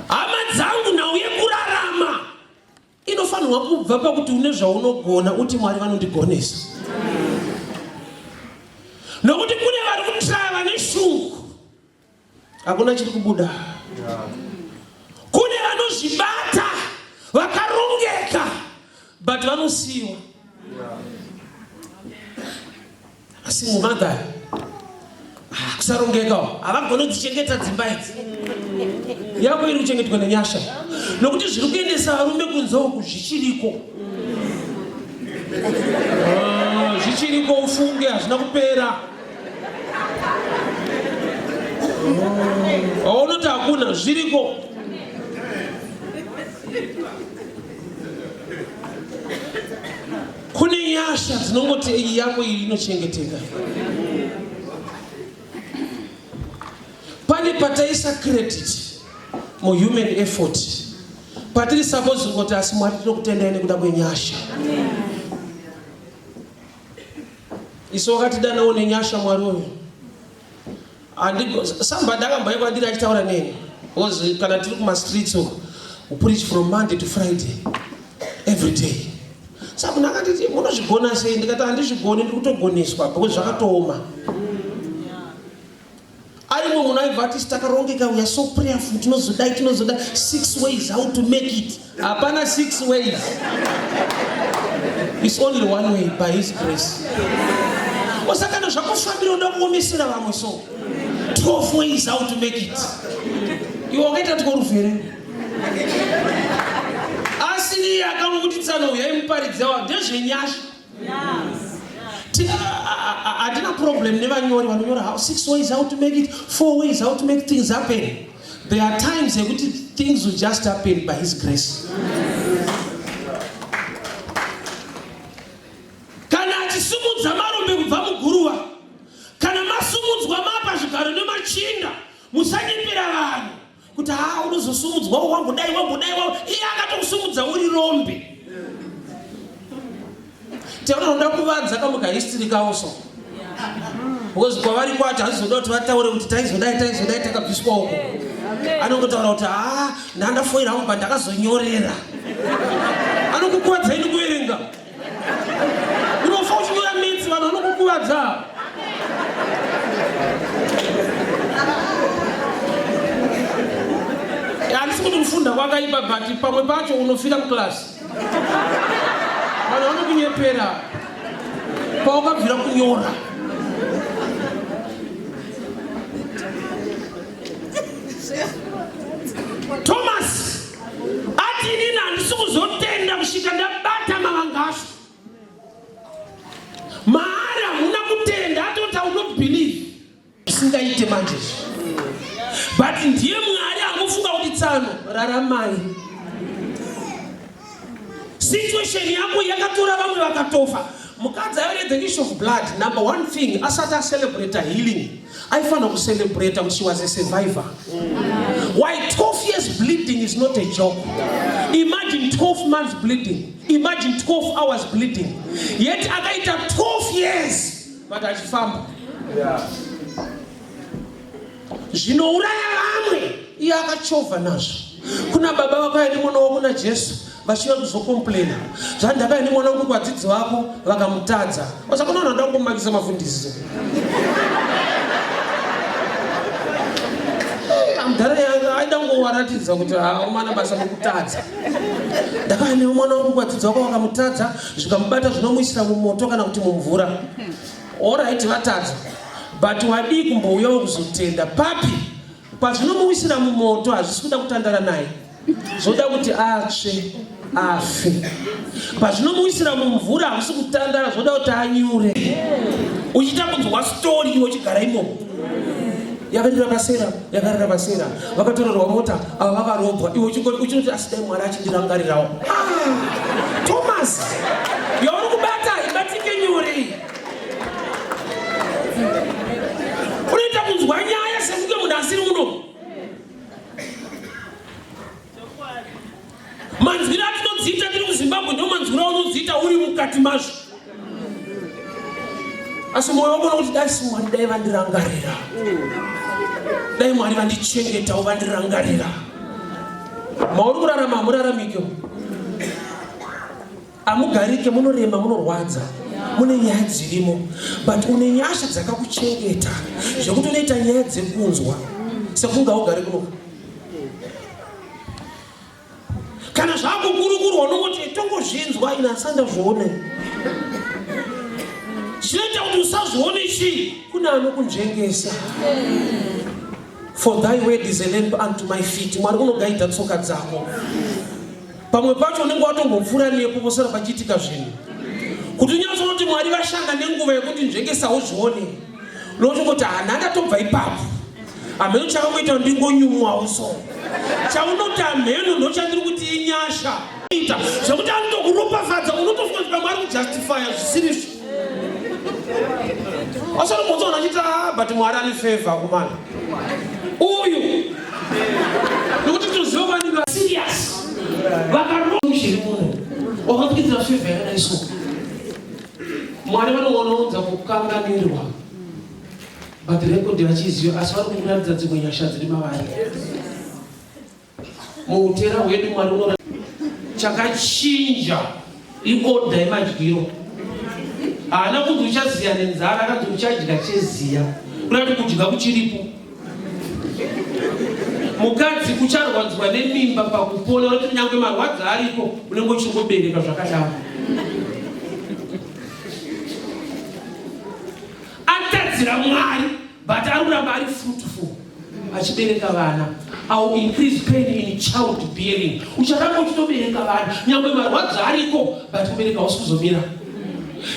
hama dzangu nhau yekurarama inofanirwa kubva pakuti une zvaunogona uti mwari vanondigonesa nokuti kune vari kutraya vane shungu hakuna chiri kubuda kune vanozvibata vakarongeka but vanosiyiwa asi mumagari ah, kusarongekawo havagone kudzichengeta dzimba idzi yako iri kuchengetwa nenyasha nokuti zviri kuendesa varume kunze uku zvichiriko ah, zvichiriko ufunge hazvina kupera aunoti ah, hakuna zviriko Kune nyasha dzinongoti iyi yako iyi inochengeteka. Pane pataisa credit mu human effort patiri suppose kuti asi Mwari tinokutendai nekuda kwenyasha. Isu wakatidanawo nenyasha Mwari uyu. somebody akamboyekwa ndiri achitaura neni because kana tiri kumastreets uko upreach from monday to friday every day sa munhu akanditi munozvigona sei ndikati handizvigoni ndiri kutogoneswa because zvakatooma aimwe munhu aibva ati takarongeka uya so prayerful tinozodai tinozodai six ways how to make it Hapana six ways. It's only one way by his grace. Osakana zvakufambira unoda kuomesera vamwe so. 12 ways how to make it. Iwe wakaita kuti korufere. Asiri akamukutitsano uyayi muparidzi yawa ndezvenyasha. hatina problem nevanyori vanonyora how six ways how to make it four ways how to make things happen there are times ekuti things will just happen by his grace kana achisimudza marombe kubva muguruva kana masumudzwa mapa zvigaro nemachinda musanyepera vanhu kuti haa unozosumudzwa wambodai wambodai iye akatokusumudza uri rombe teunoda kuvanza kamwe kahistory kavo so because kwavari kwacho haizoda kuti vataure kuti taizodai taizodai takabviswa uko anongotaura kuti haa ndandafoira hangu pandakazonyorera anokukwadza ini kuverenga unofa uchinyora mitsi vanhu vanokukuvadza handisi kuti kufunda kwakaipa but pamwe pacho unofira muclass vanhu vanokunyepera pawakabvira kunyora thomas ati inini handisi kuzotenda kusvika ndabata mavangasu maari hamuna kutenda atoti aunot believe isingaite manje but ndiye mwari akufunga kuti tsano raramai situation yako yakatora vamwe vakatofa mukadzi ayoredze issue of blood number one thing asati acelebrate healing aifanira kucelebrata kuti she was a survivor why 12 years bleeding is not a joke imagine 12 months bleeding imagine 12 hours bleeding yet akaita 12 years but achifamba zvinouraya vamwe iye akachovha nazvo kuna baba vako ane mwana wako najesu vachiva kuzokomplaina zvandakaya nemwana wekuti vadzidzi vako vakamutadza vasaka unoona nda kungomakisa mafundisi mudhara yanga aida kungowaratidza kuti haumana basa mekutadza ndakaya newe mwana wekuti vadzidzi vako vakamutadza zvikamubata zvinomuisira mumoto kana kuti mumvura orit vatadza but wadii kumbouyawo kuzotenda papi pazvinomuwisira mumoto hazvisi kuda kutandara naye zvoda kuti atsve afe pazvinomuwisira mumvura hamusi kutandara zvoda kuti anyure uchiita kunzwa stori iwe uchigara imomo yakarira vasera yakarira vasera vakatorerwa mota ava vakarobwa iwe uchinoti asi dai mwari achindirangarirawo ah, thomas yauri kubata ibatike nyuri unoita kunzwa nyaya sekunge munhu asiri uno manzwiro atinodziita tiri muzimbabwe ndo manzwiro aunodziita uri mukati mazvo asi moyo wabona kuti dai simwari dai vandirangarira dai mwari vandichengetawo vandirangarira mauri kurarama hamuraramike Amugarike munorema munorwadza mune nyaya dzirimo but une nyasha dzakakuchengeta zvekuti unoita nyaya dzekunzwa sekunge augari kunoka kana zvakukurukurwa unongoti tongozvinzwa ina asandazvione chinoita kuti usazvione chii kune anokunzvengesa for thy word is a lamp unto my feet mwari unogaidza tsoka dzako pamwe pacho unenge watombopfuura nepo posara pachiitika zvinhu kuti unyanzi unoti mwari vashanda nenguva yekuti nzvengesa uzvione unotongoti hana ndatobva ipapo hameno chakangoita ndingonyumwawo so chaunoti hameno ndochandiri kuti inyasha ita zvekuti anotokuropafadza unotofunga kuti pamwe ari kujustifya zvisirizvo Osoro mutso unachita ah, but Mwari ane favor kumana. Uyu. Nokuti tuziva kwani ba serious. Vakaroa zviri muno. Wakakuitira favor yakadai so. Mwari vanoona unza kukanganirwa. But record vachiziva asi vari kukuratidza dzimwe nyasha dziri mavari. Muutera hwedu Mwari uno chakachinja ikoda yemadyiro haana kunzi uchaziya nenzara akanzi uchadya cheziya kurati kudya kuchiripo mukadzi ucharwadzwa nemimba pakupona unoti kunyange marwadzi ariko unenge uchingobereka zvakadaro atadzira mwari but ari kuramba ari fruitful achibereka vana au increase pain in child bearing ucharamba uchitobereka vana nyangwe marwadzo ariko but kubereka hausi kuzomira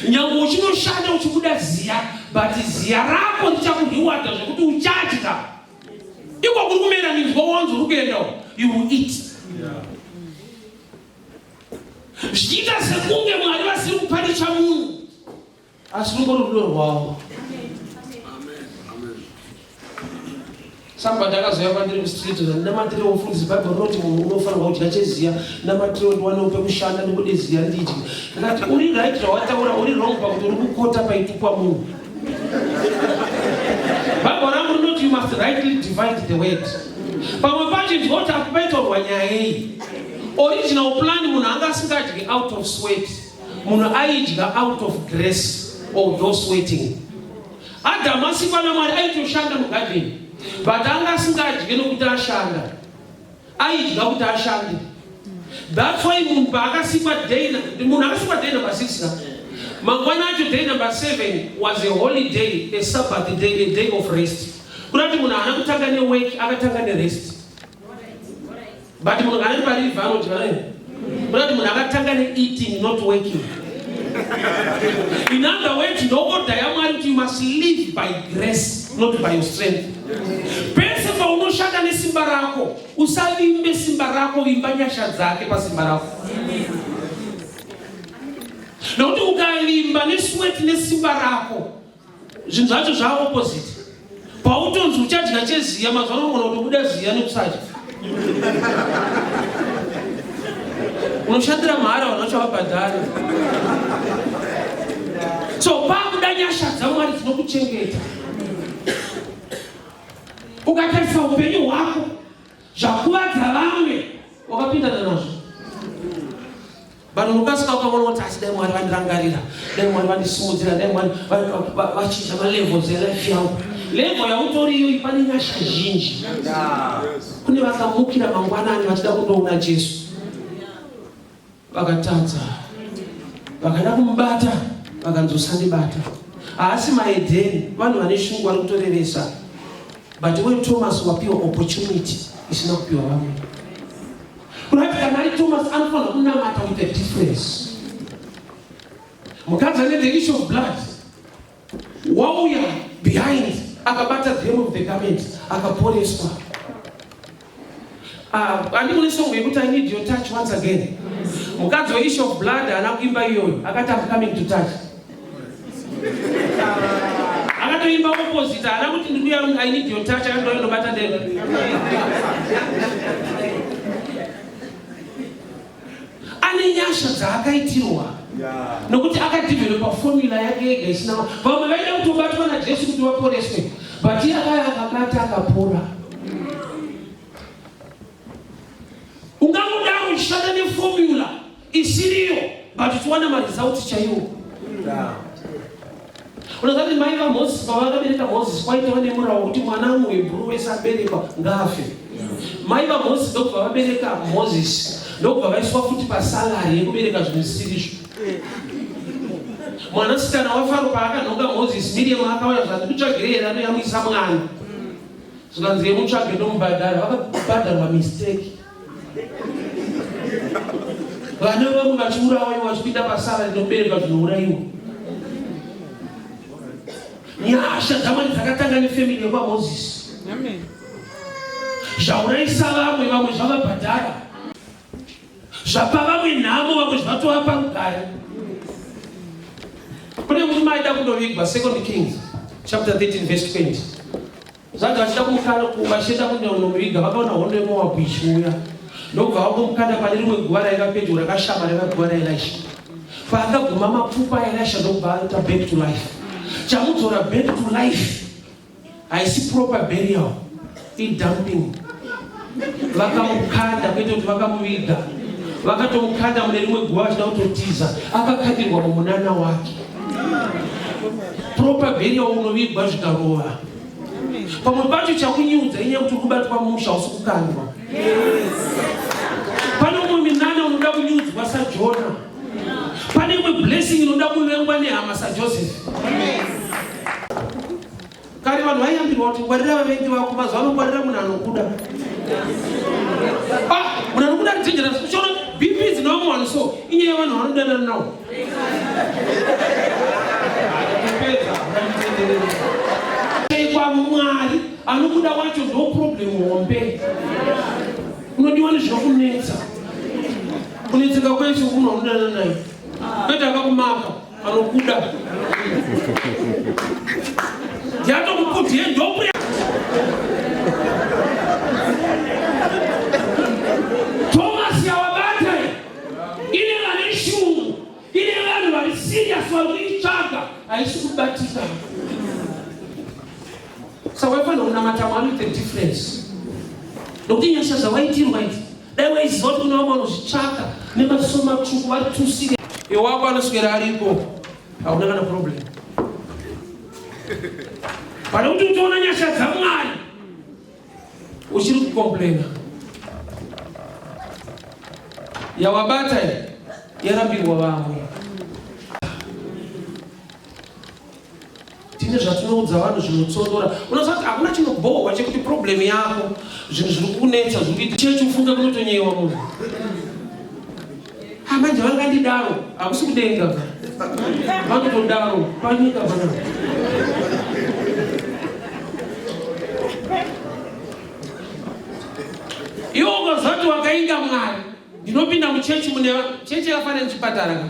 nyangwe uchinoshanda uchibuda ziya but ziya rako ndichakurhiwada zvekuti uchadya iko kuri kumera minzwa wanzi uri kuendawo you will eat zvichiita sekunge mwari vasiri kuparicha munhu Asi ruko rudo rwawo. Sabata akazouya kwandiri kustreet ndinamatire wofundisi bible rinoti munhu unofanirwa kudya cheziya namatire ndiwanewo pekushanda ndikude ziya ndidye ndikati uri right zvawataura uri wrong pakuti uri kukota paitukwa munhu bible rangu rinoti you must rightly divide the word pamwe pacho ndikoti akupaitorwa nyaya iyi original plan munhu anga asingadyi out of sweat munhu aidya out of grace or those waiting adamu asikwa namwari aitoshanda mugadheni but anga asingadye nokuti ashanda aidya kuti ashande thats why munhu paakasikwa day munhu akasikwa day number six ka mangwana acho day number seven was a holiday a sabbath day a day of rest kuda kuti munhu haana kutanga newek akatanga nerest But munhu anenge pariva anodya naye. Kuna kuti munhu akatanga ne eating not working. In other words, ndokoda yaMwari kuti you must live by grace not by your strength. Pese paunoshanda nesimba rako, usavimbe simba rako, vimba nyasha dzake pasimba rako. Nokuti ukavimba nesweat nesimba rako, zvinhu zvacho zvaa opposite pautonzi uchadya cheziya mazuva anogona kutobuda ziya nekusadya unoshandira mahara vanhu vacho vabhadhari so pakuda nyasha dzamwari dzinokuchengeta ukatarisa upenyu hwako zvakuvadza vamwe wakapindana nazvo vanhu mukasika ukaona kuti asi dai mwari vandirangarira dai mwari vandisimudzira dai mwari vachinja malevels elife yangu level yautoriyoyi pane nyasha zhinji kune vakamukira mangwanani vachida kundoona jesu vakatadza vakada kumubata vakanzi usandibata haasi maedheni vanhu vane shungu vari kutorevesa but we thomas wapiwa opportunity isina kupiwa vamwe Right, kana ari Thomas anofanira kunamata with a difference. Mukadzi ane the issue of blood wauya behind akabata the hem of the garment akaporeswa. Ah, andimune song yekuti I need your touch once again. Mukadzi we issue of blood haana kuimba iyoyo akati I'm coming to touch. akatoimba opposite haana kuti ndikuya i need your touch akatoa ndobata ndeve ane nyasha dzaakaitirwa nokuti akadevelopa formula yake yega isina vamwe vaida kutobatwa najesu kuti vaporeswe but iye akaya akabata akapora ungangodaro uchishanda neformula isiriyo but tiwana maresults chaiwo unoziva kuti mai vamozisi pavakabereka mozisi kwaitova nemurawo wekuti mwana muhebhuru wese aberekwa ngaafe mai vamozisi ndokubva vabereka mozisi ndokubva vaiswa futi pasalari yekubereka zvinhu zvisirizvo mwanasikana wafaro paakanhoka mozisi miriamu akauya zvati kutsvagire here anoyamwisa mwana zvikanzi yemutsvage ndomubhadhara vakabhadharwa mistake Vana vamwe vachiurawa vachipinda pasara rinobereka zvinourayiwa. Nyasha dzamwari dzakatanga nefamili yekwaMozisi. Zvaurayisa vamwe vamwe zvavabhadhara. Zvapa vamwe nhamo vamwe zvatova parugare. Kune murume aida kundovigwa Second Kings chapter 13 verse 20. Zvagashika kumukana kumasheta kunyaonoviga vakaona hondo yemoabhu ichiuya ndokubva vangomukanda pane rimwe guva raiva pedyo rakashama raiva guva raelisha paakaguma mapfupa aelisha ndokubva aita back to life chamudzora back to life haisi proper burial idumping vakamukanda kwete kuti vakamuviga vakatomukanda mune rimwe guva vachida kutotiza akakandirwa mumunana wake propaberia unovigwa zvikarova pamwe pacho chakunyiudza inyaya kuti kubatwa musha usi kukandwa pane umwe minana unoda kunyudzwa sajona pane imwe blessing inoda kuvengwa nehama sajoseph Kare vanhu vaiyambirwa kuti ngwarira vavengi vako, mazuva ano ngwarira munhu anokuda. Ah, munhu anokuda ari dangerous. Uchaona BP is normal so inyaya yevanhu vanodanana nawo. Kwa Mwari anokuda wacho ndo problem hombe. Unodiwa nezvokunetsa. Kunetseka kwesu unodanana naye. Kwete akakumaka. Anokuda. Ndiato kukuti yendopri. Thomas yawabata ine vane shungu ine vanhu vari serious vari kuitsvaga haisi kubatika. Saka waifanira kunamata mwari the difference. Nokuti nyasha dzawaitirwa idzi Dai waiziva kuti unavo vanozvitsvaka nemaziso matsvuku vari tusire. Iwako anoswera aripo. Hauna kana problem. Pane kuti utoona nyasha dzaMwari. Uchiri kukomplaina. Yawabata yarambirwa vamwe. tine zvatinoudza vanhu zvinotsondora unoziva kuti hakuna chinobhohwa chekuti problem yako zvinhu zviri kunetsa zviri kuita chechi ufunge kunotonyewa munhu amanje ah, vangandidaro hakusi kudenga vanotodaro panyika pana iwo ukazati wakainda mwari ndinopinda muchechi mune chechi yakafanira nechipatara ka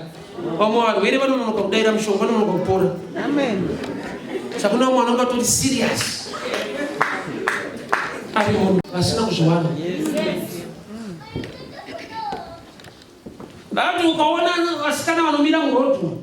vamwe varwere vanononoka kudaira mushonga vanonoka kupora sakuna vamwe vanonga tori serious ari munhu vasina kuzviwana vati ukaona vasikana vanomira murodhu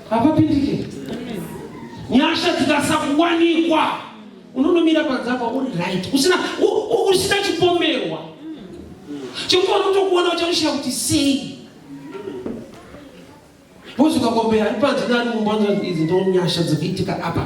hapapindike nyasha dzikasakuwanikwa unonomira panzapa uri right usina usina chipomerwa chekuti unotokuona uchakushaya kuti sei bozi ukakombera ari panze nari mumba idzi ndonyasha dzekuitika apa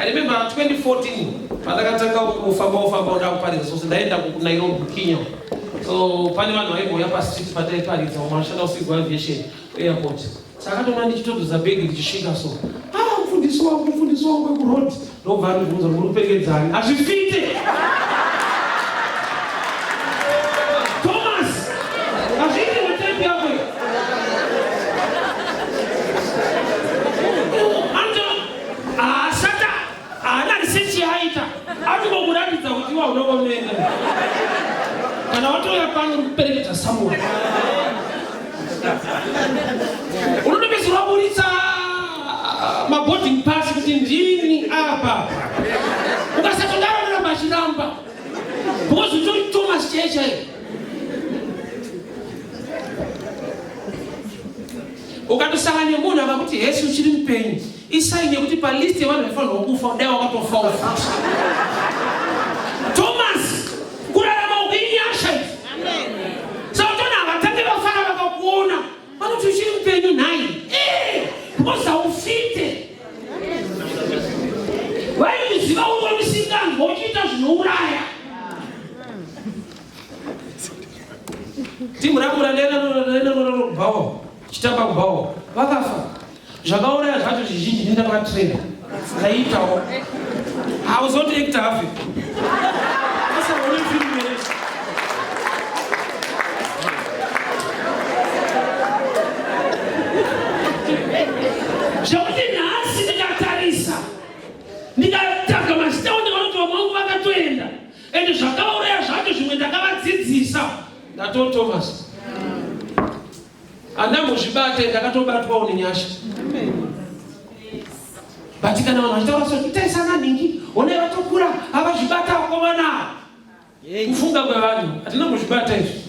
I remember 2014 pandakatanga kufamba kufamba kuda kuparidza sose ndaenda kuNairobi Kenya so pane vanhu vaimbouya pastreet pataiparidza vamwe vanoshanda kusigwa aviation airport sakatoona ndichitodzoza bhegi ndichisvika so ah mfundisi wangu mfundisi wangu wekuroad ndobva andibvunza muri kupengedzani hazvifite Haashata, haana research yaaita, atongokuratidza kuti iwa unenge unoenda. Kana watouya pano uri kuperekedza someone. Unotopedza waburitsa maboarding pass kuti ndini apa. Ukasatodaro unoramba achiramba. Because utori Thomas chaiye chaiye. ukatosanga nemunhu akakuti hesi uchiri mupenyu isaini yekuti palist yevanhu vaifanirwa kufa dai wakatofa ufa thomas kurarama uku inyasha sautona havatange vafana vakakuona vanoti uchiri mupenyu nhai bkoza eh, ufite vaimuziva uvo musinganzwa uchiita zvinouraya timu rangu randainanorobawo chitamba kubawo vakafa zvakauraya zvacho zvizhinji ndinda vakatrena ndaiitawo hauzoti ekta hafi zvekuti nhasi ndikatarisa ndikatanga mazita and zvakauraya zvacho zvimwe ndakavadzidzisa ndatoo thomas andambozvibate ndakatobatwawo nenyasha but kana vanhu vachitaura so itaisana ningi onai vatokura avazvibata vakomana kufunga kwevanhu hatina kuzvibata izvi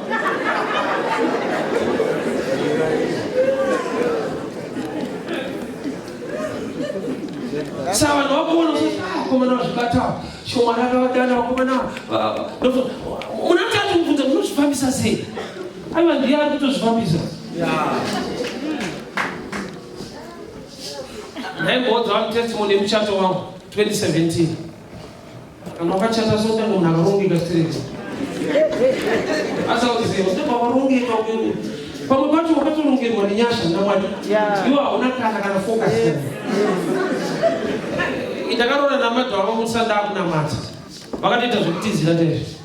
saka vanhu vakuona vakomana vazvibatawo shomana akavadana vakomana munatati mubvunza munozvifambisa sei aiva ndiye ari kutozvifambisa nhaimboodza vanhu testimony yemuchato wangu 2017 Kana wakachata so tanga munhu akarongeka straight. Asi akuziva kuti pakarongeka uyu pamwe pacho wakatorongerwa nenyasha namwari iwo hauna kana kana focus ndakaroora namadha wavo musanda akunamata vakatoita zvekutizira ndezvo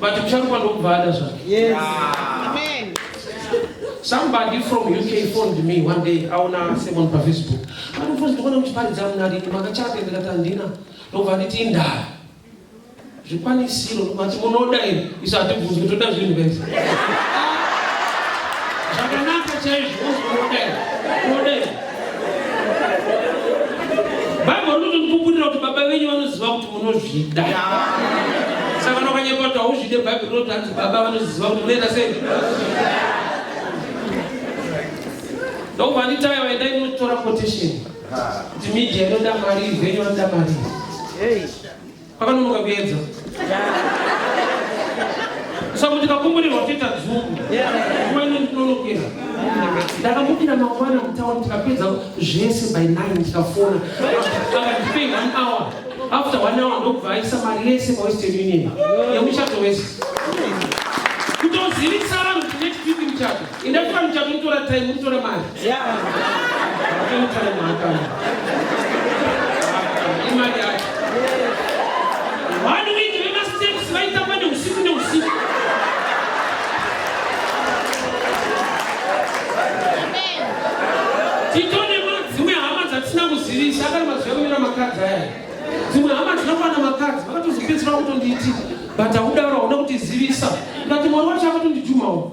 But ucharuka ndokubva ada zvake. Yes. Ah. Amen. Somebody from UK phoned me one day aona Simon pa Facebook. Anofunza ndikuona muchiparidza munadi makachate ndikati handina ndobva nditi indaya. Zvikwanisiro mati munoda iri isu hatibvunzi kuti toda zvinhu guys. Zvakanaka chaizvo unoda iri. bhaibheri rinotondipupurira kuti baba venyu vanoziva kuti munozvida saka nokanyekwa kuti hauzvide bhaibheri rinoti hanzi baba vanoziva kuti munoita sei ndokuvanitai vaendai munotora quotation kuti media inoda mari venyu vanoda mari Pakanonoka kuedza. Saka kuti kakumburirwa kuita dzungu. Kuma ino ndinonokera. Ndakamukira mangwana mutawa tikapedza zvese by 9 tikafona. Akatipei one hour. After one hour ndokubva aisa mari yese pa Western Union. Yemuchato wese. Kutozivisa vanhu kuti next week muchato. Ine fam chakutora time mutora mari. Yeah. Time time maka. Imari yake. One week we must take swaita kwa ni usiku ni usiku. Titone madzimwe hama dzatisina kuzivisa akari mazuva kumira makadzi aya. Dzimwe hama dzinokwana makadzi vakatozipedzera kutondiiti but haudaro hauna kutizivisa. Ndati mwari wacho akatondijumawo.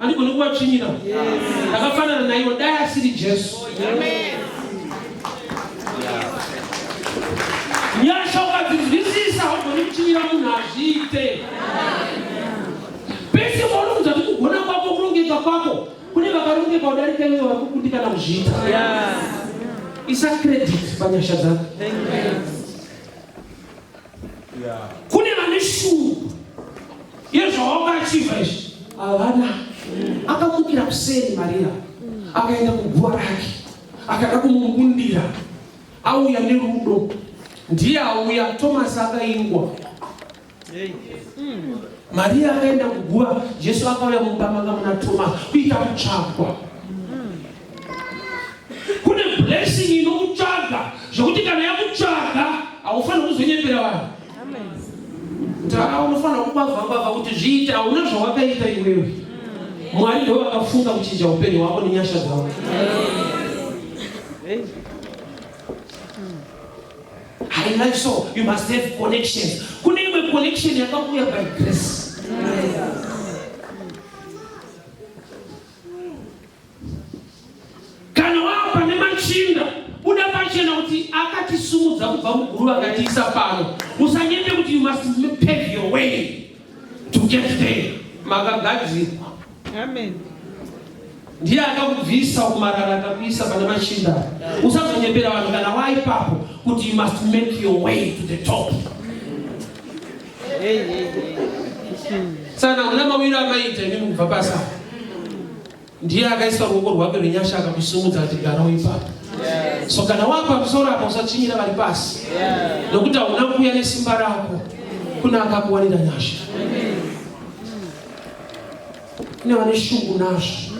andigoni kuvatsvinyira ndakafanana naivo dai asiri jesu nyasha ukadzidzwisisa haugoni kutsvinyira munhu hazviite pese paunoudza kuti kugona kwako kurongeka kwako kune vakarongeka udarika iwe vakukundikana kuzviita isa credit panyasha dzako kune vane shungu yezvawaungachiva izvi havana akamukira kuseni maria akaenda kuguva rake akada kumubundira auya nerudo ndiye auya tomasi akaingwa maria akaenda kuguva jesu akauya mumba manga muna tomasi kuita kutsvagwa Kune blessing inokutsvaga zvokuti kana yakutsvaga haufaniri kuzonyepera vanhu. Tara unofanira kubava bava kuti zviita hauna zvawakaita iwewe. Mwari ndiwo vakafunga kuchinja upenyu hwako nenyasha dzavo. I like so you must have connections. Kune imwe connection yakakuya by grace. Yes. Kana wava pane machinda, buda pachena kuti akatisumudza kubva muguruva akatiisa pano. Usanyete kuti you must pave your way to get there. Makagadzirwa. Amen. Ndiye akakubvisa kumarara akakuisa pane machinda. Usazonyepera vanhu kana waipapo kuti you must make your way to the top. Hey, hey, hey. Sana una mawira amaita imi mubva pasa. Ndiye akaisa ruoko rwake rwenyasha akamusimudza ati garawo ipapo. So kana wapa musoro apa usachinyira vari pasi nokuti hauna kuuya nesimba rako kuna akakuwanira nyasha. Kune vane shungu nazvo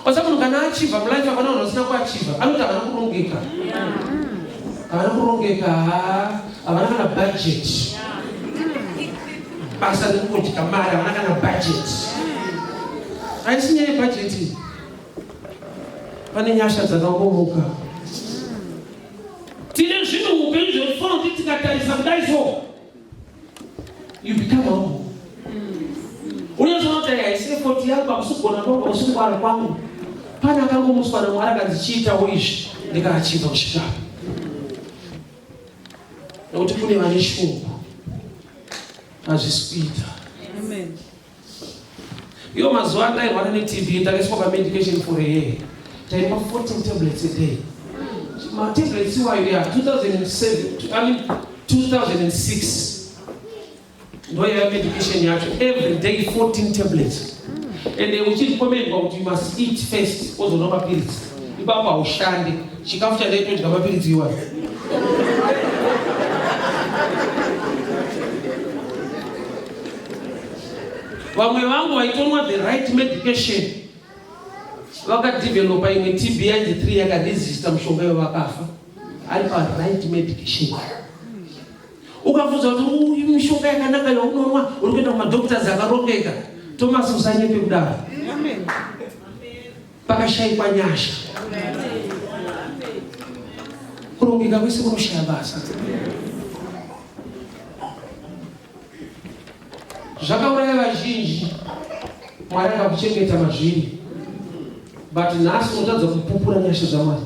kwasa munhu kana achiva mulife hapana vanhu vasina kuachiva anoti havana kurongeka havana kurongeka havana kana bhajeti basa rekungodya mari havana kana budget haisi nyaya yebhajeti pane nyasha dzakakomoka tine zvinhu upenyu zvekufana kuti tikatarisa kudai so you become humble unozonoti haisi efoti yako akusugona kwangu akusungwara kwangu pane akangomuswa namwari akanzichiitawo izvi ndikaachiva kuchitapa nokuti kune vane shoko hazvisi kuita iyo mazuva andairwara netv ndakaiswa pamedication for a year taimwa 14 tablets a day matablets iwayo ya 2007 2006 ndoiva medication yacho every day 14 tablets and eh, uchirekomendwa kuti you must eat first wozonwa mapiritsi ipapo haushande chikafu chandaitodya mapiritsi iwayo vamwe vangu vaitonwa the right medication vakadevelopa imwe tb yainzi three yakaresista mushonga ivo vakafa ari pa right medication ukabvunza kuti uyu mishonga yakanaka yaunomwa uri kuenda kumadoctors akarongeka tomasi usanyepe kudaro pakashaikwa nyasha kurongeka kwese kunoshaya basa zvakauraya vazhinji mwari akakuchengeta mazviri but nhasi unotadza kupupura nyasha zvamwari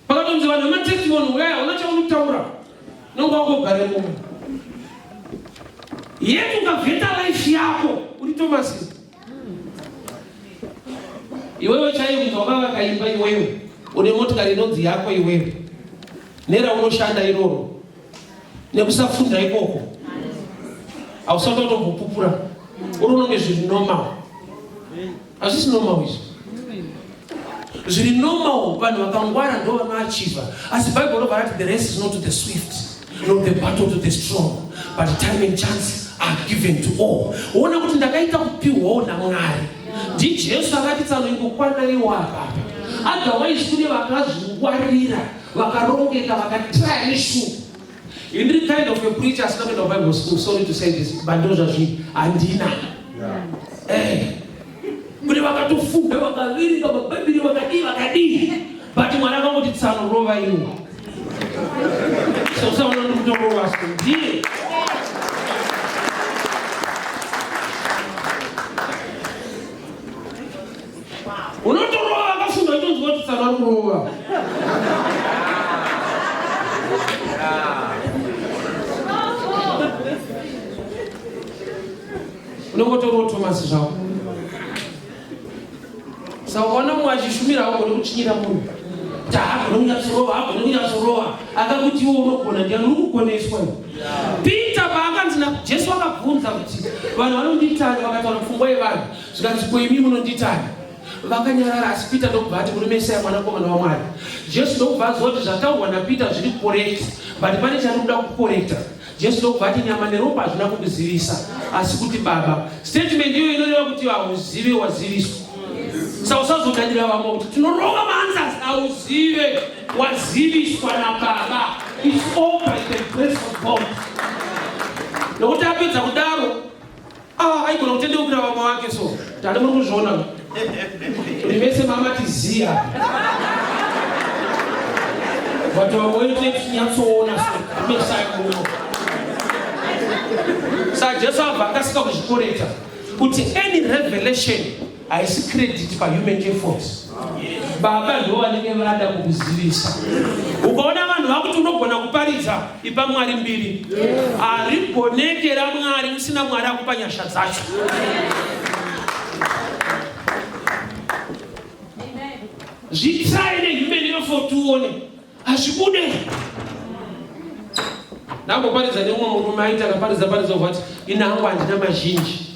Pakatonzi vanhu vematestimony huyai hauna chaunotaura nonga wakogare mumwe yet ukavheta life yako uri tomasi iwewe chaiye kuti wakavaka imba iwewe une motikari inonzi yako iwewe neraunoshanda iroro nekusafunda ikoko hausati watogopupura uri unonge zviri normal hazvisi normal izvi zviri normal vanhu vakangwara ndo vanoachiva asi bible robva rati the race is not to the swift not the battle to the strong but time and chance are given to all woona kuti ndakaita kupiwawo namwari ndijesu akati tsano ingokwanaiwo apapa otherwise kune vakazvingwarira vakarongeka vakatraya neshuwa ini kind of a preacher asina kuenda kubible school sorry to say this but ndo zvazvii handina eh. kune vakatofunda vakaverenga mabhaibheri vakadii vakadii but mwana akangoti tsano rova iwo sosaona ndikutorova so ndiye unotorova vakafunga utonzwa kuti tsara kurova unongotorova tomasi zvako saka ukaona mumwe achishumira haugone kuchinyira munhu taagone kunyatsorova agone kunyatsorova akakuti iwo unogona ndiani uri kugoneswa peter paakanzi najesu akabvunza kuti vanhu vanonditani vakataura pfungwa yevanhu zvikanzi ko imi munonditani vakanyarara asi peter ndokubva ati muri mesaya mwanakomana wamwari jesu ndokubva aziva kuti zvataurwa napeter zviri correct but pane chari kuda kukorekta jesu ndokubva ati nyama neropa hazvina kukuzivisa asi kuti baba statement iyo inoreva kuti hauzive waziviswa sa usazodanira vamwe kuti tinorova maanzas hauzive waziviswa nababa is all by the grace of god nokuti apedza kudaro Ah, aigona kutendeukira vamwe vake so tati muri kuzviona kuti vese mamati ziya but vamwe voite nyatsoona somesaikuno sa jesu abva akasika kuzvikoreta kuti any revelation haisi credit pahuman effort baba ndo vanenge vada kukuzivisa ukaona vanhu vakuti unogona kuparidza ipa mwari mbiri harigoneke ramwari usina mwari akupa nyasha dzacho zvitsai nehuman effort uone hazvibude ndakamboparidza neumwe murume aiti akaparidza paridza vati ini hangu handina mazhinji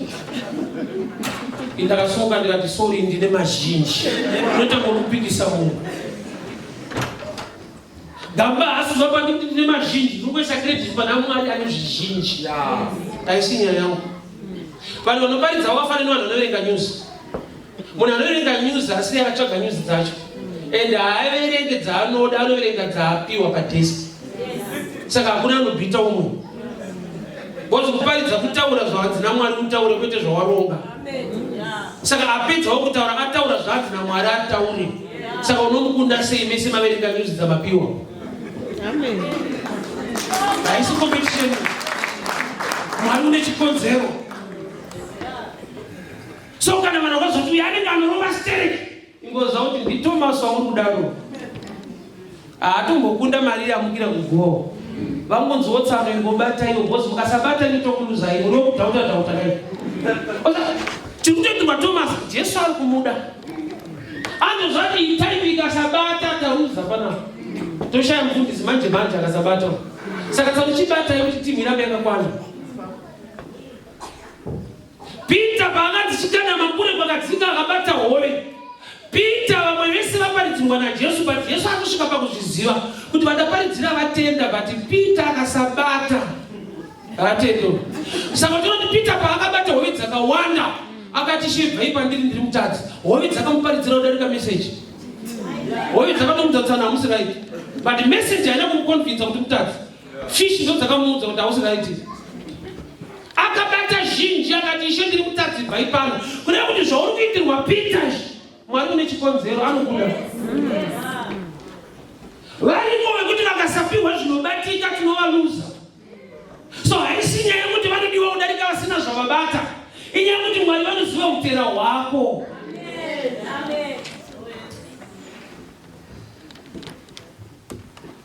indakasuka ndikati sori ndine mazhinji unoita ngokupikisa munhu gamba hasi zvapa ndikuti ndine mazhinji ndikuisa credit pana mwari ane zvizhinji taisinyaya yangu vanhu vanoparidza wakafanana vanhu vanoverenga nyuzi munhu anoverenga news asi akatsvaga news dzacho and haaverenge dzaanoda anoverenga dzaapiwa padesk saka hakuna anobita umwe bcause kuparidza kutaura zvahanzi namwari utaure kwete zvawaronga saka apedzawo kutaura ataura zvahanzi namwari ataure saka unomukunda sei mese maverenga news dzamapiwa haisi competition mwari une chikonzero so kana vanhu vakazoti uyu anenge anorova stereki ingoziva kuti nditomas wamuri kudaro haatombokunda mari yamukira kugoho vangonzi wotsano ingobata iyo bhozi mukasabata nitokuluzai muri wokudhauta dhauta kai tiri kutoti matomas jesu ari kumuda anzo zvati itaimi ikasabata tauza pana toshaya mufundisi manje manje akasabata saka tsakuchibata yekuti timhira mekakwana Peter paakadzikana makure kwakadzika akabata hove. Peter vamwe vese vaparidzirwa naJesu but Jesu akusvika pakuzviziva kuti vadaparidzira vatenda but Peter akasabata atendo. Saka tinoti Peter paakabata hove dzakawanda akati shevhai pandiri ndiri mutadzi. Hove dzakamuparidzira kudarika message. Hove dzakatomudza kuti hamusi right. But message haina kumukonvinza kuti mutadzi. Fish ndo dzakamuudza kuti hausi right. Akabata zhinji akati ishe ndiri kutadzirwa ipano. Kuda kuti zvauri kuitirwa Peter Mwari une chikonzero anokuda. Variko vekuti vakasapihwa zvinobatika tinovaluza. So haisi nyaya yekuti vanodiwa kudarika vasina zvavabata. Inyaya yekuti Mwari vanoziva utera hwako. Amen. Amen.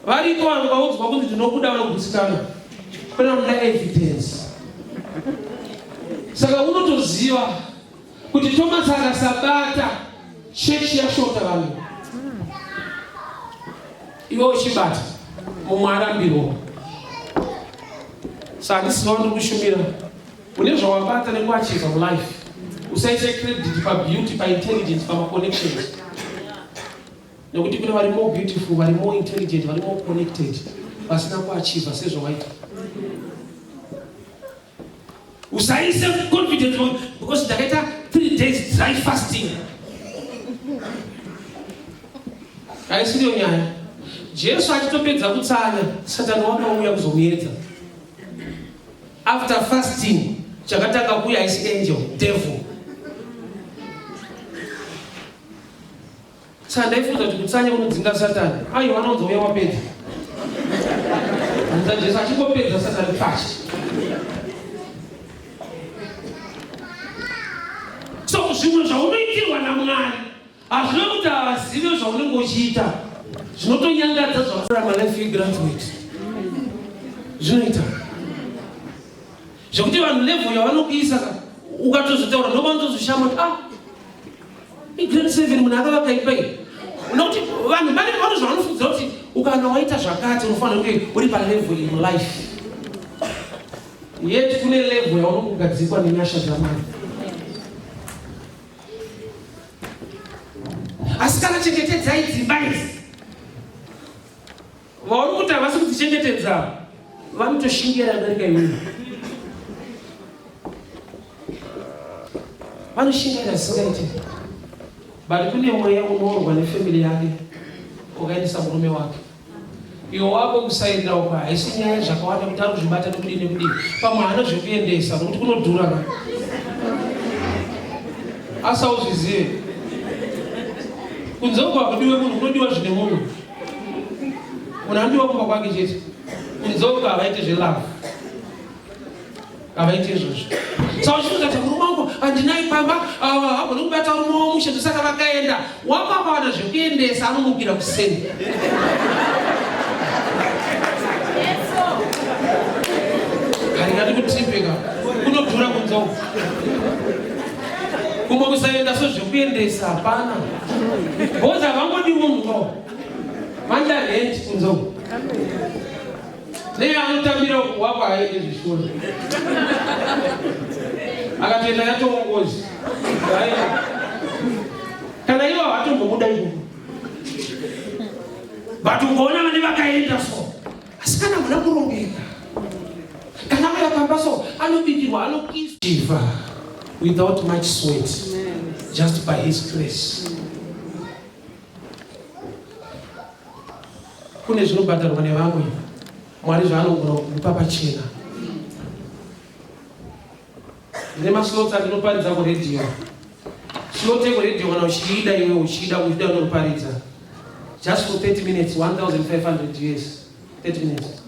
Variko vanhu vaudzwa kunzi ndinokuda vanogutsikana kwena muda evidence. Saka unotoziva kuti Thomas akasabata chechi yashota vanhu iwe uchibata mumwe arambirwa. Saka handisiva ndiri kushumira une zvawabata nekuachiza mulife usaise credit pabeauty paintelligence pamaconnections Nekuti kune vari more beautiful, vari more intelligent, vari more connected, vasina kuachiva sezvawaita. Usaise confidence because ndakaita three days dry fasting. Haisiriyo nyaya. Jesu achitopedza kutsanya, Satani wakauya kuzomuedza. After fasting, chakatanga kuuya haisi angel, devil. Saka ndaifunga kuti kutsanya kunodzinga satani. Aiwa anonzi uya wapedza. Anza Jesu achingopedza satani pashi. So zvimwe zvaunoitirwa naMwari hazvina kuti havazive zvaunenge uchiita zvinotonyangadza zvakurama life yegraduate zvinoita zvekuti vanhu level yavanokuisa ka ukatozotaura ndopanotozoshama kuti ah igrade seven munhu akavakaipa iyi nokuti vanhu vane vano zvavanofungidzira kuti ukana waita zvakati unofanira kunge uri palevel in life yet kune level yaunokugadzikwa nenyasha dzamai asi kana chengetedzai dzimba idzi Vaona kuti havasi kudzichengetedza ava vanotoshingera darika imweni vanoshingaira zvisingaite but kune mweya unoorwa nefamily yake ukaendesa murume wake iwo wako kusaenda uko haisi nyaya zvakawanda kuti ari kuzvibata nekudii nekudii pamwe hana zvekuendesa nokuti kunodhura ka asauzvizive kunze uko hakudiwe munhu kunodiwa zvine munhu munhu anodiwa kumba kwake chete kunzeuka havaite zvelove havaite izvozvo saka uchitozati murume wangu handinai pamba hagoni kubata murume wamushe ndosaka vakaenda wamakawana zvekuendesa anomukira kuseni haringati kutimbeka kunodhura kunzeuka kumwe kusaenda so zvekuendesa hapana Boza vangodi munhu no. Manja rent kunzo. Nei anotambira kuwakwa haidi zvishona. Akatoenda yatongozi. Kana ivo hatombobuda ivo. But ukaona vane vakaenda so. asi kana muna kurongeka kana muna pamba so anobikirwa anokiswa without much sweat just by his grace kune zvinobhadharwa nevamwe mwari zvaanogona kukupa pachena Ndine maslots andinoparidza kuradio. Slot yekuradio kana uchiida iwe uchida uchida unoparidza. Just for 30 minutes 1500 US. 30 minutes.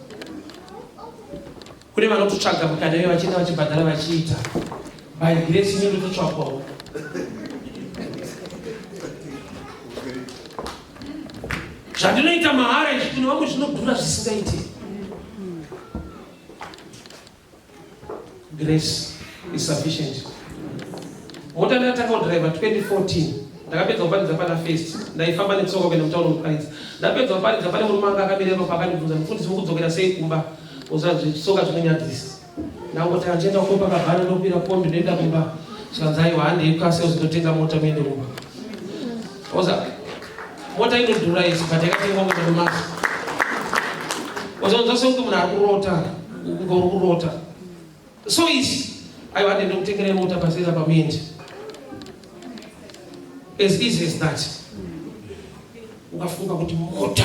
Kune vanototsvaga mukana iwe vachienda vachibhadhara vachiita. By grace imi ndototsvagwawo. zvandinoita mahara izvi kune vamwe zvinodhura zvisingaiti Grace is sufficient. Mota ndatanga kudriver 2014 ndakapedza kuparidza pana first ndaifamba netsoka kuenda mutauro kuparidza ndapedza kuparidza pane murume anga akamirema pakandibvunza mufundisi vokudzokera sei kumba uzazvitsoka zvinonyadzisa ndangoti andienda ko pakabhana ndokubira kombi ndoenda kumba zvikanzi aiwa handei kukaseo zvinotenga mota muende kumba Oza mota inodhura isu but yakatengwa kumadomasi. Wazonzwa sekuti munhu ari kurota kunge uri kurota so easy. Aiwa ndende kutengere mota pasera pamuende as easy as that. Ukafunga kuti mota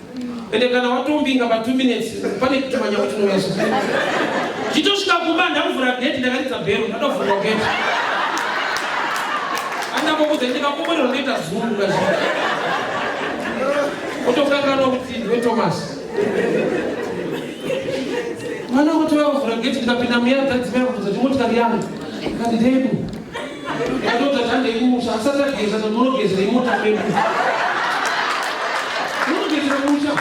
ende kana watombinga pa 2 minutes pane kuti manyawo tinoweza chitosvika kumba ndakuvhura gate ndakaridza bhero ndadovhurwa gate andakokuza ndikakomborero ndoita zungu kazi otokanganwa kuti ndiwe thomas mwana kuti wavhura gate ndikapinda muya tadzimai kubuza timotikari yangu kandidei Ndakadzoka tanga ikumusha asati ageza ndonogezera imota pedu. Unogezera musha.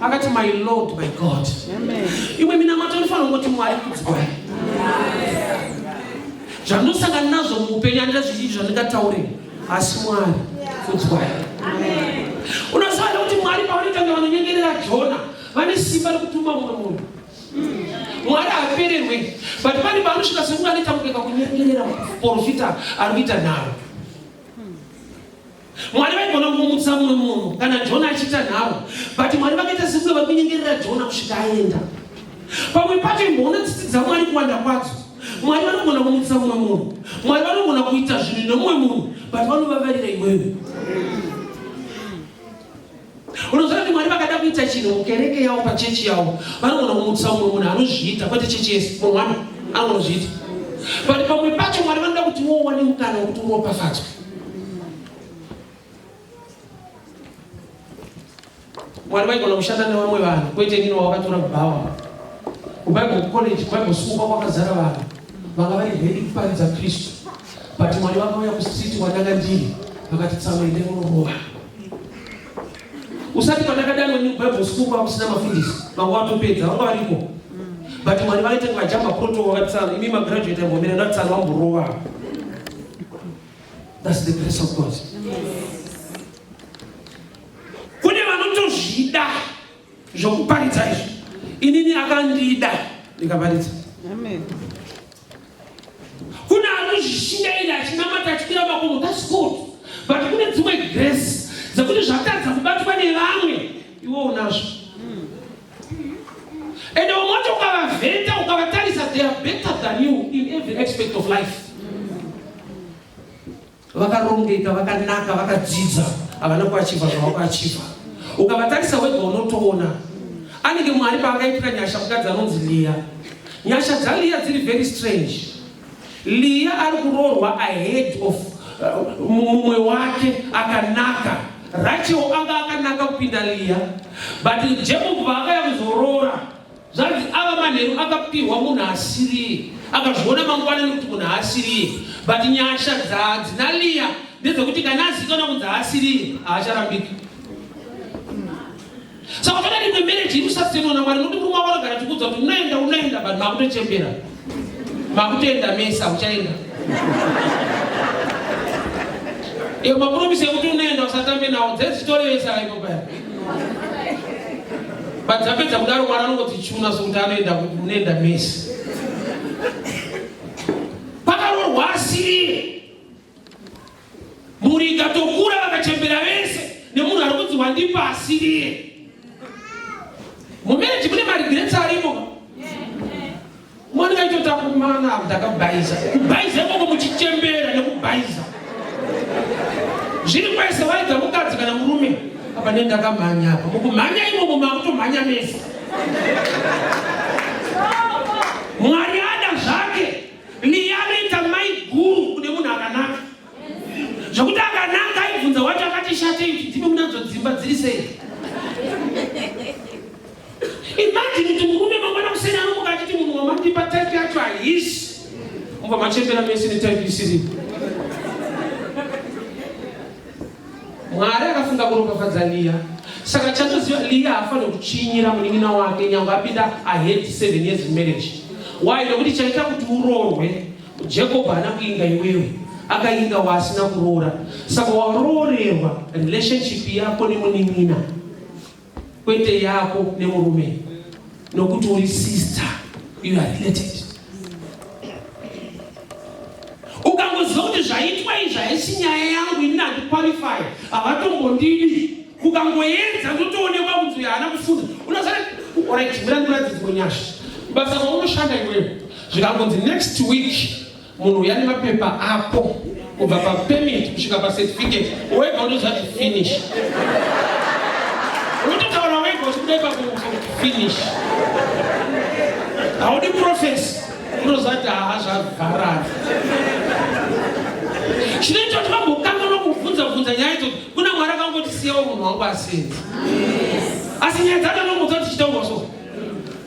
akati my lord my god imwe minamato inofanira kungoti mwari kudzwa zvandinosangana nazvo muupenyu andira zvizhinji zvandingataurei Asi Mwari kudzwai. Unoziva kuti Mwari pavanotanga vanonyengerera Jona vane simba rekutuma mumwe munhu. Mwari haapererwe but pane paanosvika sekunge anoita mukeka kunyengerera porofita ari kuita nharo. Mwari vaigona kumutsa mumwe munhu kana Jona achiita nharo but Mwari vakaita sekunge vari kunyengerera Jona kusvika aenda. Pamwe pacho imboona tsitsi dzaMwari kuwanda kwadzo. mwari vanogona kumutsa mumwe munhu mwari vanogona kuita zvinhu nemumwe munhu but vanovavarira iwewe unoziva kuti mwari vakada kuita chinhu mukereke yavo pachechi yavo vanogona kumutsa mumwe munhu anozviita kwete chechi yese munhu wani anogona kuzviita but pamwe pacho mwari vanoda kuti wowane mukana wekuti uropafadzwe Mwari vaigona kushanda nevamwe vanhu kwete nini wawakatora bhawa kubible college bible school kwakwakazara vanhu vanga vari ready kuparidza kristu but mwari vakauya kustreet kwandanga ndiri vakati tsamwa ende unorova usati pandakadanwa new bible school kwakusina mafundisi vanga watopedza vanga variko but mwari vaita ngajamba proto vakati tsana imi magraduate ambomira ndati tsana vamborova thats the grace of god yes. Kune vanotozvida zvokuparidza izvi. Inini akandida ndikaparidza. Amen. Kune anozvishingaira achinamata achipira makomo that's good. But kune dzimwe grace dzekuti zvatadza kubatwa nevamwe iwo unazvo. And umwe wacho ukavavheta ukavatarisa they are better than you in every aspect of life. vakarongeka vakanaka vakadzidza havana kuachiva zvavakuachiva ukavatarisa wega unotoona anenge mwari paakaitira nyasha mukadzi anonzi liya nyasha dzaliya dziri very strange liya ari kuroorwa ahead of uh, mumwe wake akanaka rachel anga akanaka kupinda liya but jekobho vaakaya kuzoroora Zvanzi ava manheru akapihwa munhu asiriye akazviona mangwana nekuti munhu haasiriye but nyasha dzadzina liya ndedzekuti kana azikana kunzi haasiriye haacharambika saka kana rimwe mereji iri sasenona mwari nokuti murume wavanogara tikudza kuti unoenda unoenda but makutochembera Makutoenda mese hauchaenda. Iyo mapromise ekuti unoenda usatambe nawo dzezitori vese araipo paya. But dzapedza kudaro mwana anongoti chuna sokuti anoenda kuti unoenda mese. Pakarorwa asiri Mhuri ikatokura vakachembera vese nemunhu ari kunzi wandipa asiriye. Mumereji mune maregrets arimo. Mwana kaitota kumana ndakabhaiza. Kubhaiza ikoko muchichembera nekubhaiza. Zviri kwese waidza mukadzi kana murume. Apa ne ndakamhanya apa. Mukumhanya imomo makutomhanya mese. Mwari ada zvake Ndiyanoita mai guru kune munhu akanaka zvokuti akanaka aibvunza wacho akati shate ichi dzimi munadzo dzimba dziri sei imajini kuti murume mangwana kuseni anomuka achiti munhu wamandipa type yacho haisi mubva machembera mese netype isiripo Mwari akafunga kuropafadza Liya. Saka chatoziva Liya haafanire kuchinyira munin'ina wake nyangwe apinda ahead seven years in marriage. Why? Nekuti chaita kuti uroorwe Jacob haana kuinga iwewe akainga waasina kuroora. Saka waroorerwa relationship yako nemunin'ina. kwete yako nemurume nokuti uri sister you are related ukangoziva kuti zvaitwa izvi haisi nyaya yangu ini handiqualify havatombondidi ukangoedza ndotoonekwa kunzi uyo haana kufunda unozati orit mira ndiradzidzwe nyasha basa vaunoshanda iwewe zvikangonzi next week Munhu uya nemapepa ako kubva papermit kusvika pacertificate wega unoziva kuti finish unototaura wega uchikuda ipapo finish haudi profesi unoziva kuti haha zvavharara chinoita kuti vambokanganwa kubvunza bvunza nyaya idzo kuna mwari akangotisiyawo munhu wangu asenzi asi nyaya dzakanomudza tichitaurwa so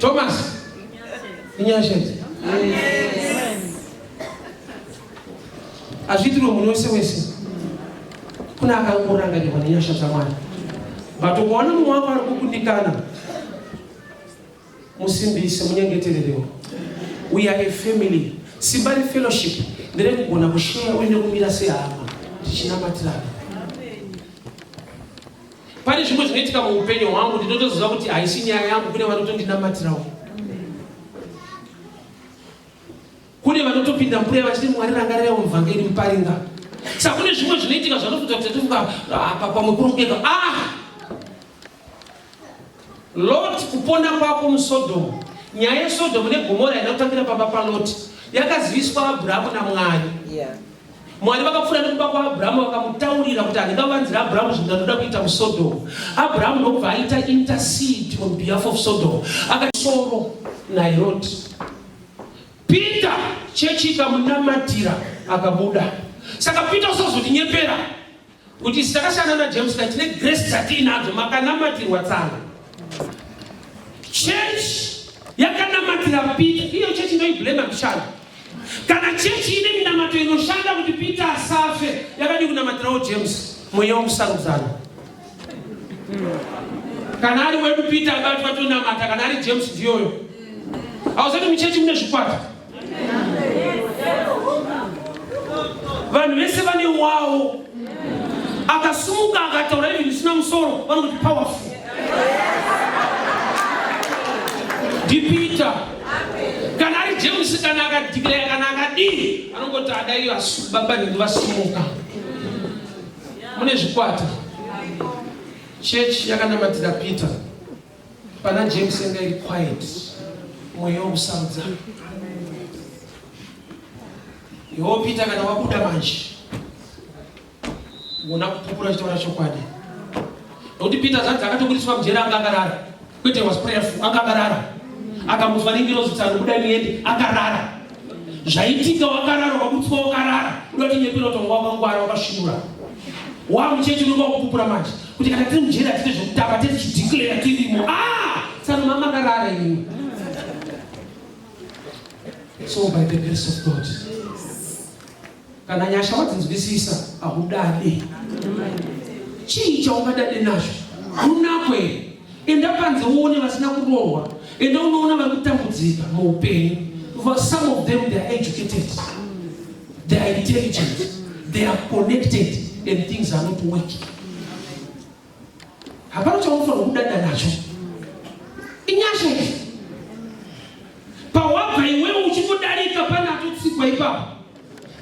Thomas inyashenzi azviitirwe munhu wese wese kuna akangorangarirwa nenyasha dzamwari but ukaona mumwe wako ari kukundikana musimbise munyengetererewo we are a family simba refellowship nderekugona kusheya uine kumira sehama tichinamatiraga Pane zvimwe zvinoitika muupenyu hwangu ndinotoziva kuti haisi nyaya yangu, kune vanotondinamatirawo. Kune vanotopinda mbuya vachiti Mwari rangarira muvhangeri muparinga. Saka kune zvimwe zvinoitika zvanofunga kuti tofunga apa pamwe kurongeka. Ah! Lot, kupona kwako muSodom. Nyaya yeSodom neGomora haina kutambira pamba paLot, yakaziviswa Abraham naMwari. Yeah. Mwari vakapfuura nekuba kwaAbraham vakamutaurira kuti handinga vanzira Abraham zvinhu ndanoda kuita muSodom. Abraham ndokubva aita intercede on behalf of Sodom. Akasoro naLot. Peter chechi ikamunamatira akabuda. Saka Peter usazotinyepera. kuti isu takashanda najames ka tine grace dzatiinadzo makanamatirwa tsanga church yakanamatira peter iyo church inoiblema mshando kana chechi ine minamato inoshanda kuti peter asafe yakadi kunamatirawo james mweya wokusarudzana kana ari wedu peter abatwa tonamata kana ari james ndiyoyo hauzati muchechi mune zvikwata vanhu vese vane wawo akasumuka akataura even zvisina musoro vanoti powerful ndipita kana ari james kana akadhikireya kana akadii anongoti adai baba nhingi vasumuka mune zvikwata chechi yakanamatira peter Pana James yanga iri quiet, mweya wokusarudza. Yoo Peter, kana wabuda manje wona kupupura uchitaura chokwadi, nokuti Peter zvanzi akatobudiswa mujeri anga akarara, kwete was prayerful, anga akarara, akamuzwa nengirozi tsano, buda muende, akarara. zvaitika wakarara wakabutswa wakarara unotinyepera utonga wakangwara wakashinura wamuchechi unenge wakupupura manje kuti kana tiri mujeri hatite zvekutamba tete chidhiklera tirimo a ah! saka mama akarara imwe so by the grace of god Kana nyasha wadzinzwisisa ahudade. Chii chaungadade nazvo? Hunako here? Enda panze uone vasina kurohwa. Enda unoona vari kutambudzika muupenyu. For some of them they are educated. They are intelligent. They are connected and things are not working. hapana chaunofanirwa kudada nacho inyasha izvi pawabva iwewe uchingodarika pane atotsikwa ipapo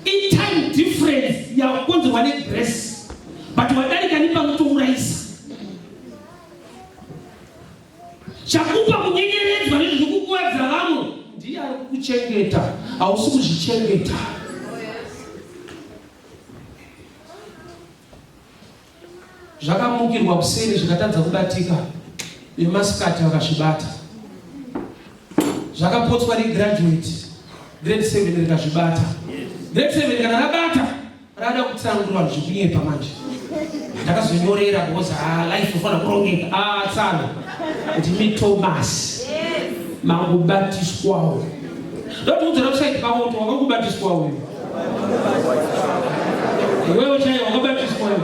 itime difference yakonzerwa negrace but wadarika nepanotourayisa chakupa kunyengeredzwa nezviri kukuwadza vamwe ndiye ari kukuchengeta hausi kuzvichengeta zvakamukirwa kuseni zvikatadza kubatika nemasikati vakazvibata zvakapotswa negraduate grade 7 rikazvibata grade 7 kana rabata rada kutsanangura vanhu zvekunyepa manje ndakazonyorera because ah, life ufanira kurongeka ah, tsano kuti mitomas mangubatiswawo ndotiudzira kusaiti pavo kuti wanga kubatiswa uyu iwewe chaiye wakabatiswa uyu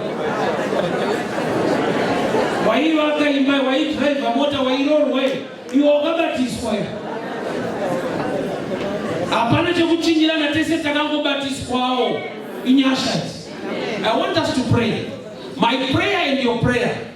waivaka imba waidhiraivha mota wairorwa iwe wakabatiswa uyu hapana chekuchinyirana tese takangobatiswawo inyasha i want us to pray my prayer and your prayer